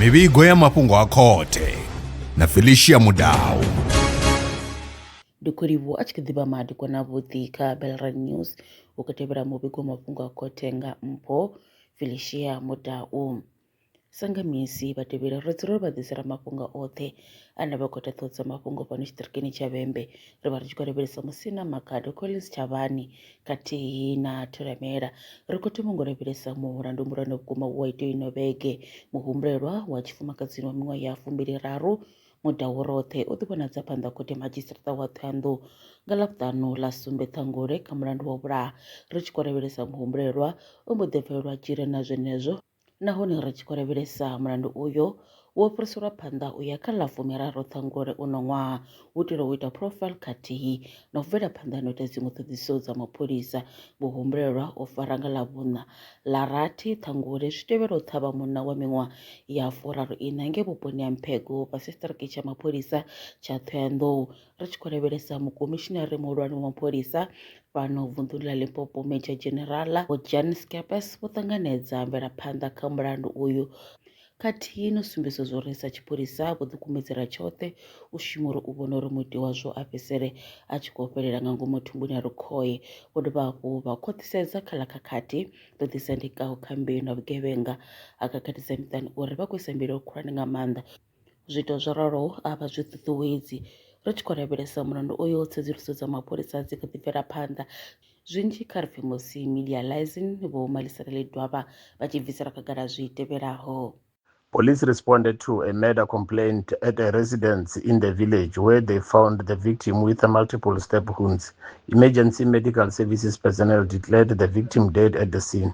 mivhigo ya mafhungo a khothe na felicia mudau ndi khou livhuwa a tshi kha ḓivha madiko na vhuḓi kha belran news u kho tevhela muvhigo wa mafhungo a khothe nga mpho felicia mudau Sa nga misi vha tevheli ri dzula ri vha ḓisela mafhungo oṱhe a ne vha khou ita ṱhoho dza mafhungo fhano tshiṱirikini tsha Vhembe. Ri vha ri tshi khou lavhelesa Musina, Makhado, Collins, Tshavhani khathihi na Thulamela. Ri khou thoma ngo lavhelesa mulandu muhulwane vhukuma wa ita ino vhege. Muhumbulelwa wa tshifumakadzini wa miṅwaha ya fumbili raru mudau roṱhe o ḓi vhonadza phanḓa ha khothe madzhisiṱiraṱa wa Thohoyandou nga Ḽavhuṱanu ḽa sumbe Ṱhangule kha mulandu wa vhulaha. Ri tshi khou lavhelesa muhumbulelwa o mbo ḓi bvelelwa dzhele na zwenezwo Nahone ri tshi khou lavhelesa mulandu uyo, wo fhiriselwa phanḓa u ya kha ḽa fumiraru Ṱhangule uno ṅwaha u itela u ita profile khathihi na u bvela phanḓa na u ita dziṅwe ṱhoḓisiso dza mapholisa. Vho humbulelwa u fara nga ḽa vhuṋa ḽa rathi Ṱhangule zwi tevhela u ṱhavha munna wa miṅwaha ya furaru iṋa ngei vhuponi ha Mphego fhasi tshiṱiriki tsha mapholisa tsha Thohoyandou Ri tshi khou lavhelesa Mukomishinari Muhulwane wa Mapholisa fhano vunḓuni ḽa Limpopo Major General Vho Jan Skeepers vho ṱanganedza mvelaphanḓa kha mulandu uyu khathihi no sumbedza zwo ri sa tshipholisa vho ḓikumedzela tshoṱhe u shuma uri u vhona uri muiti wazwo a fhedzisele a tshi khou fhelela nga ngomu thumbuni ya lukhohe vho dovha hafhu vha khwaṱhisedza kha ḽa khakhathi ḓo ḓisendekaho kha mbeu na vhugevhenga ha khakhathisa miṱani uri vha khou isa mbilaelo khulwane nga maanḓa Zwiito zwo raloho a vha zwi ṱuṱuwedzi. Ri tshi khou lavhelesa mulandu uyo, tsedzuluso dza mapholisa dzi kha ḓi bvela phanḓa. Zwinzhi kha ri pfe musi Milia Lysne, Vho Maliselela Edwaba vha tshi bvisela khagala zwi tevhelaho. Police responded to a murder complaint at a residence in the village where they found the victim with multiple stab wounds. Emergency medical services personnel declared the victim dead at the scene.